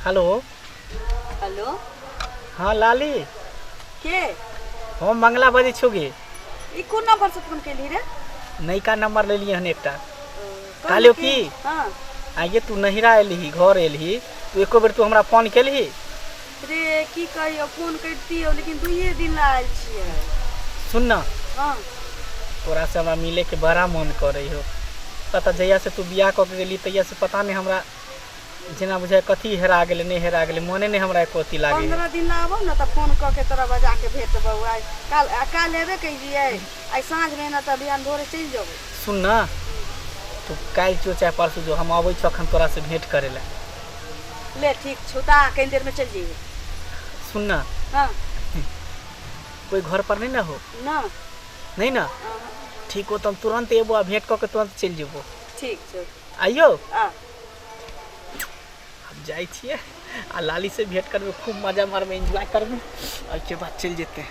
Hello hello हाँ लाली के हम मंगला बजै छौ गे ई कोन नंबर से फोन केली रे नयका नंबर लेलियै हन एकटा कहलियौ की हाँ आइए तू नहिरा एलही घर एलही तू एको बेर तू हमरा फोन केलही रे की कहियो फोन करतियो लेकिन दुइये दिन ला आयल छियै सुन ना हाँ तोरा से हमरा मिले के बड़ा मन करे हो पता जहिया से तू बियाह कऽ के गेली तहिया से पता नहीं हमरा जेना बुझाय कथी हेरा गेलै नहीं हेरा गेलै मने नहीं हमरा एको अथी लागे पंद्रह दिन ला आबो ना तऽ फोन कऽ के तोरा बजा के भेटबौ आइ काल आ काल एबे कहियै आइ साँझ में ना तऽ बिहान भोरे चलि जेबै सुन ना तू काल्हि जो चाहे परसू जो हम अबै छौ अखन तोरा से भेंट करे ला ले ठीक छुता कहीं देर में चल जाइए सुनना हाँ कोई घर पर नहीं ना हो ना नहीं ना हाँ, ठीक हो तो हम तुरंत एबो आ भेंट करके तुरंत चल जेबो ठीक छो आइयो आ हम जाए छिए आ लाली से भेंट करबे खूब मजा मारबे एंजॉय करबे और के बाद चल जेते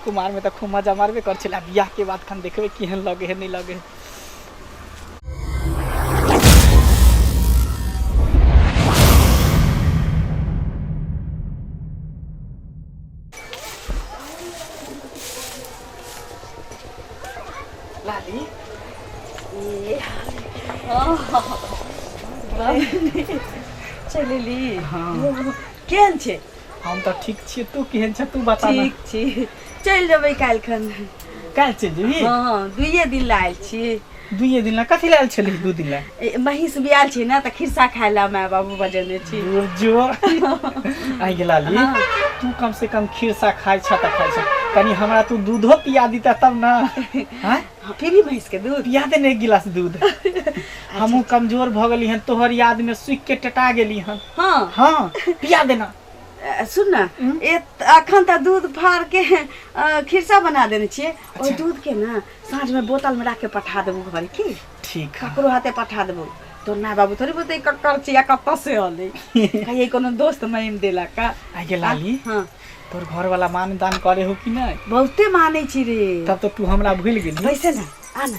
कुमार में तो खूब मजा मारबे कर छला बियाह के बाद खान देखबे केहन लगे है नहीं लगे है चलि ली हँ केहन छै हम तऽ ठीक छियै तू केहन छै तू बता ठीक छी चलि जेबै काल्हि खन काल्हि चलि जेबही हँ हँ दुइए दिन लए आयल छी दुइए दिन लए कथी लए आयल छली दू दिन लए ए, महींस बियाल छै ने तऽ खिरसा खाय लए माय बाबू बजेने छी जो आइ गेला ली हाँ। तू कम से कम खीरसा खाइ छ तऽ खाइ छ कनी हमरा तू दूधो पिया दीता तब ना हाँ? हाँ, पीबी भैंस के दूध पिया दे ने एक गिलास दूध हमहूँ कमजोर भऽ गेली हन तोहर याद में सुखि के टटा गेली हन हाँ हाँ पिया देना अ, सुन ना ए अखन त दूध फाड़ के अ, खिरसा बना देने छिए ओहि दूध के ना साँझ में बोतल में राख के पठा देबू घर की ठीक है ककरो हाथे पठा देबू तोर माय बाबू थोड़ी बोलते ककर चिया कतऽ से अलै कहिए कोनो दोस्त महिम देला का आइ गेल लाली हाँ तोर घर वाला मान दान करे हो कि नहीं बहुते मानै छी रे तब तो तू हमरा भूल गेली वैसे ना आ ना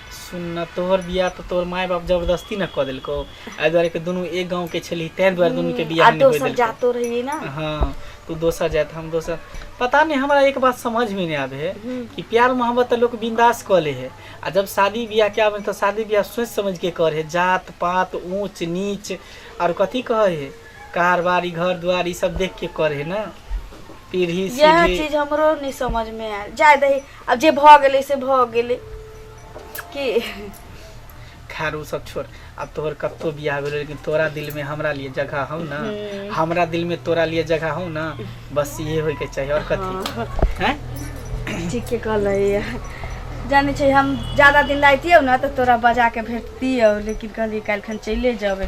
सुन न तोहर बियाह तऽ तोहर माय बाप जबरदस्ती न कऽ देलकौ एहि दुआरे कि दुनू एक गाँव के छली ताहि दुआरे दुनू के बियाह आ नहि होय दोसर देलकौ जातो रहिए ना हाँ तू दोसर जात हम दोसर पता नहीं हमरा एक बात समझ में नहीं आवे है कि प्यार मोहब्बत तो लोग बिंदास कऽ ले है आ जब शादी ब्याह के आवे है तो शादी ब्याह सोच समझ के कर है जात पात ऊंच नीच और कथी कहे है कार बाड़ी घर दुआर ई सब देख के करे ना पीढ़ी यह सीढ़ी चीज हमरो नहीं समझ में आयल जाय दही अब जे भ गेले से भ गेले की खैर उ सब छोड़ अब तोहर कत्तो बियाह भेल लेकिन तोरा दिल में हमरा लिए जगह हौ ना हम्म। हमरा दिल में तोरा लिए जगह हौ ना बस ये होय के चाहिए और कथी हैं ठीक के कहल है जाने छै हम ज्यादा दिन लाइतियौ ना तो तोरा बजा के भेजतियौ लेकिन कहली काल्हि खन चले जेबै